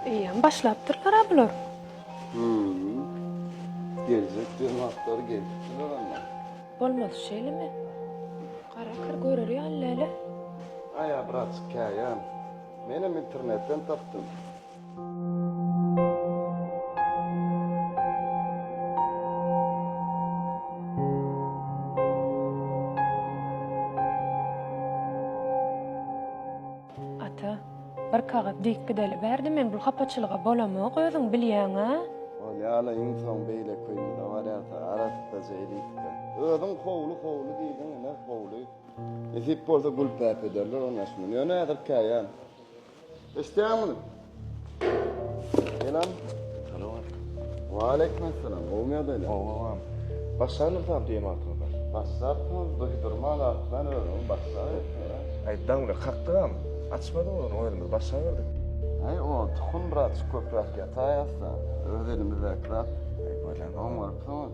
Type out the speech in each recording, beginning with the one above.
Eýýäm başlapdyrlar-a bular. Hü-ü. Geljek jenaplar gelipdiler anda. Bolmaz şeýlemi? Gara kir görer ýaly däl-ä. Aýa braçik käýän. Menem internetden tapdym. Ata, bir kagyz dikgideli ber-de, men bu hapaçylyga bolamok, özüň bilýäň-a? Ol ýaly iň soň beýleki köýnüne barýarka, arassaja elitge. Özüň howly, howly diýdiň, ine, howly. Nesip bolsa gülpäp ederler onuň aşyny. Ýöne häzir käýän. Eşidýäňmi? Selam. Salam aleyküm. Wa aleyküm assalam. Gowmy ýagdaýlar? Gowam. Başlandyr sap diýen wagtyňyzda. Başlapmyz, duýdurman atlan özüňi başlaýyn. Aýtdaň bir kakdygam. Açmadyň ony özümiz başlaberdik. Aý, o tukum bir açyk köpräk ýataý asla. Öz elimizdäki zat. Aý, bolýa. Oňarypsyňyz.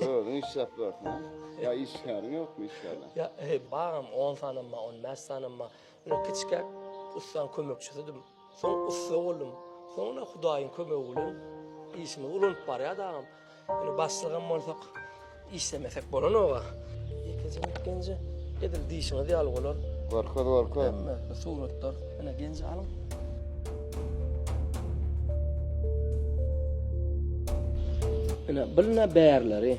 Özüň iş tapýarsyň. Ýa işgäriň ýokmy işgärler? Ýa, he, bagam, on sany bar, on bäş sany bar. Ýöne kiçikäk ussanyň kömekçisidim. Soň ussa boldum. Soň ine Hudaýyň kömegi bilen işimiz ulanyp barýar dagam. Ýöne başlygam bolsak, işlemesek bolanok-a. Ýekeje mit genje. Edil diýşiňiz ýaly bolar. Görkez görkez. Hemme suratlar. Ene genji alyň. Ene bilne bärleri.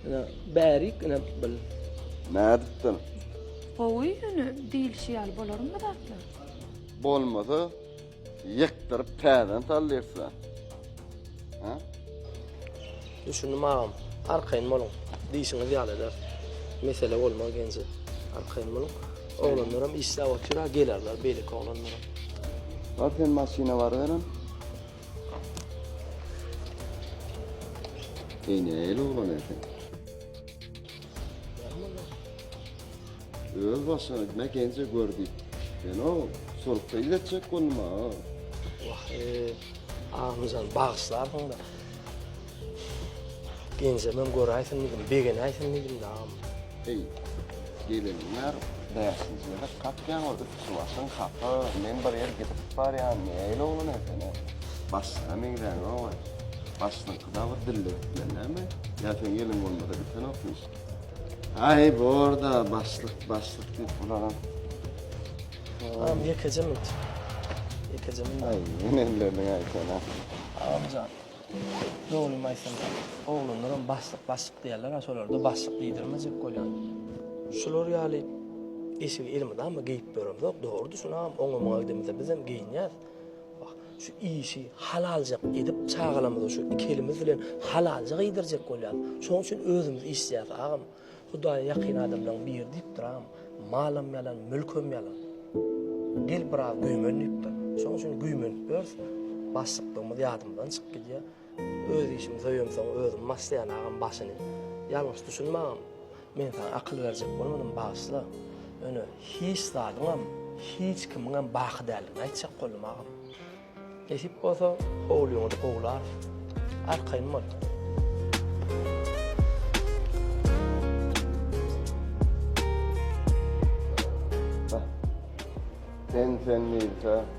Ene bärik ene bil. Nädipdir? Gowy ýöne diýilişi ýaly bolarmy zatlar? Bolmasa Ýykdyryp täzeden sal diýipsiň. Ha? Düşündim agam. Arkaýyn boluň. Diýşiňiz ýaly eder. Mesele bolmaz genji. Arkaýyn boluň. Oglanlaram işläp otyr, ha gelerler beýleki oglanlaram. Bar sen maşyna baryberem. Eý nähili oglan eken? Öz başyňa mekenje gör diýip. Sen o surta iletjek boldum ha. Wah, Agmyjan bagyşlarsyň da. Genjemem göräýsin diýdim, begenäýsin diýdim de agam. Eý, gelinler, bäşinji ýere kakýaň ol üsti başyň hapa, men bir ýer gidip barýan, näýil oglan ekeni. Başyna meňzäňok-a. Başyňky dagy dilli gitmeli näme? Ýa sen gelin bolmada gitsenokmy? Ay borda başlyk başlyk diýip bularam. Tamam ýekeje minut. Ýekeje minut. Ay menellerden aýsana. Amjan. Dogrymy aýtsam, oglanlaram başlyk başlyk diýerler, ha şolarda başlyk diýdirmejek bolýan. Şular ýaly eşigi elmydama geýip ýöremzok, dogrudy şunam oňamaga gidemizde bizem geýinýäs. Wah, şu işi halaljak edip, çagalarymyzy şu iki elimiz bilen halalja giýdirjek bolýas. Şoň üçin özümiz işleýäs, agam. Hudaýa ýakyn adamlaryň biri diýipdir, agam. Malam ýalan, mülkem ýalan. Gel biraz güýmen diýipdir. Şoň üçin güýmenip ýörüs. Başlyklygymyz ýadymyzdan çykyp gidýär. Öz işimi soýemsoň özüm baslaýan agam başyny. Ýalňyş düşünme agam. Men saňa akyl berjek bolmadym bagyşla. Ýöne hiç zadyňam, hiç kimiňem baky däldigini aýtjak boldum agam. Nesip bolsa howlyňyzy gowlarys. Arkaýyn bol. Sen sen diýilse.